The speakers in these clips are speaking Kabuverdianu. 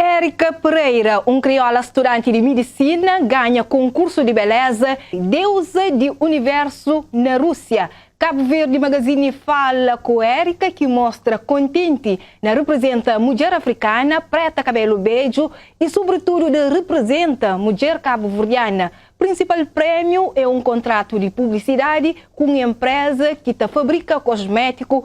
Erika Pereira, un kriola studanti di midisina, ganha konkursu di beléza Deuza di Universu na Rúsia. Kabu Verdi Magazini fala ku Erika, ki mostra kontenti na reprizenta mudjer afrikana, preta kabelu bedju i sobritudu di reprizenta mudjer kabuverdiana. Prinsipal prémiu é un kontratu di publisidadi ku un enpréza ki ta fabrika kosmétiku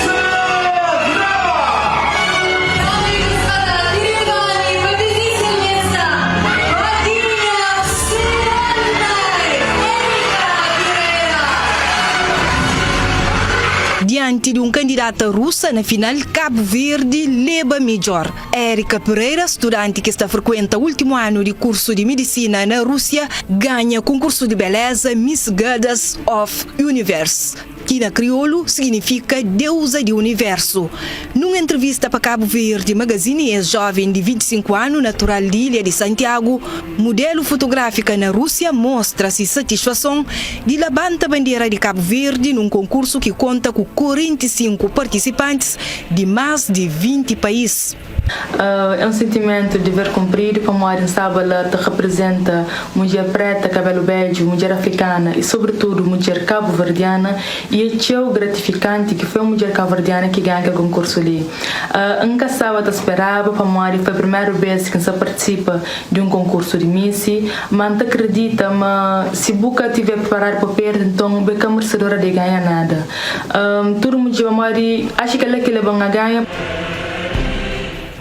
Dianti di un kandidata rusa na final, Kabu Verdi leba midjór. Erika Pereira, studanti ki sta frikuenta últimu anu di kursu di midisina na Rúsia, ganha konkursu di beléza Miss Goddess of Universe. ki na kriolu siginifika Deuza di Universu. Nun entrevista pa Cabo Verde Magazine, es joven di 25 anu, natural di ilha di Santiago, mudelu fotografika na Rusia, mostra si satisfason di labanta bandera di Cabo Verde nun konkursu ki konta ku 45 partisipantis di mas di 20 pais. É un sentimentu diver kunpridu pamodi N saba la ta reprizenta mudjer preta kabelu bedju, mudjer afrikana y sobritudu mudjer kabuverdiana y é txeu gratifikanti ki foi un mudjer kabuverdiana ki ganha kel konkursu li. N ka staba ta speraba pamodi foi primeru bes ki N sta partisipa di un konkursu di Missi, ma N ta kridita ma si bu ka tiver priparadu pa perde nton bu é ka mersedora di ganha nada. Tudu mudjer pamodi atxa kel-la ki leba-m na ganha.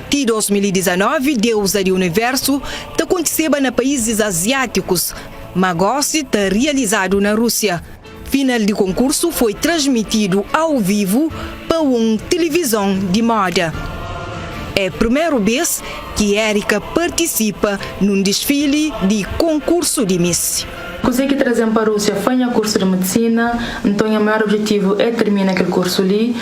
Ti 2019, deuza di universu ta kontiseba na paízis aziátikus, má gósi ta rializadu na Rúsia. Final di konkursu foi transmitidu au vivu pa un tilivizon di móda. É primeru bês ki Erika partisipa nun disfili di konkursu di Miss. Kuzê ki traze-m pa Rúsia foi nha kursu di medisina, nton nha maior objetivu é tirmina kel kursu li.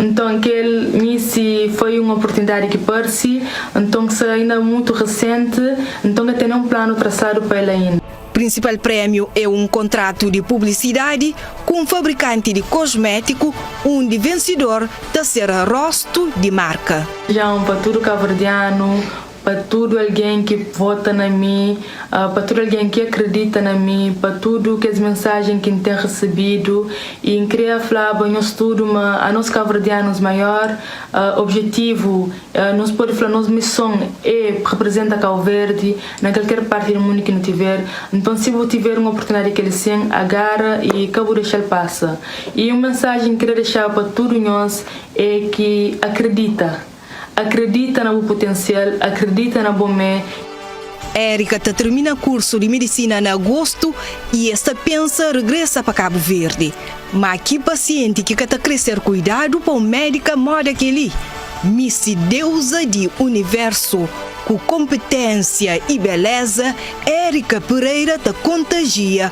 Nton, kel misi foi un oportunidadi ki parse, nton sa inda mutu resenti, nton ka ten nen un planu trasadu pa el ainda. Prinsipal prémiu é un kontratu di publisidadi ku un fabrikanti di kosmétiku, undi vensidor ta ser róstu di marka. Dja un pa tudu kabuverdianu, Pa tudu algen ki vota na mi, pa tudu algen ki akredita na mi, pa tudu kes mensajen ki N ten resebidu. I N kria flaba nhos tudu ma anos kabuverdianus maior objetivu, nhos pode fla nos mison e reprezenta Kau Verdi na kalker parti di mundu ki nu tiver. Nton si bu tiver un oportunidadi di kel sen, agara i ka bu dexal pasa. I un mensajen N kria dexa pa tudu nhos e ki akredita. Akredita na bu putensial, akredita na bo mé. Erika ta termina kursu di midisina na agostu i es ta pensa regresa pa Kabu Verdi. Má ki pasienti ki ka ta krê ser kuidadu pa un médika móda kel-li? Misti deuza di univérsu ku konpiténsia i beléza, Erika Pereira ta kontajia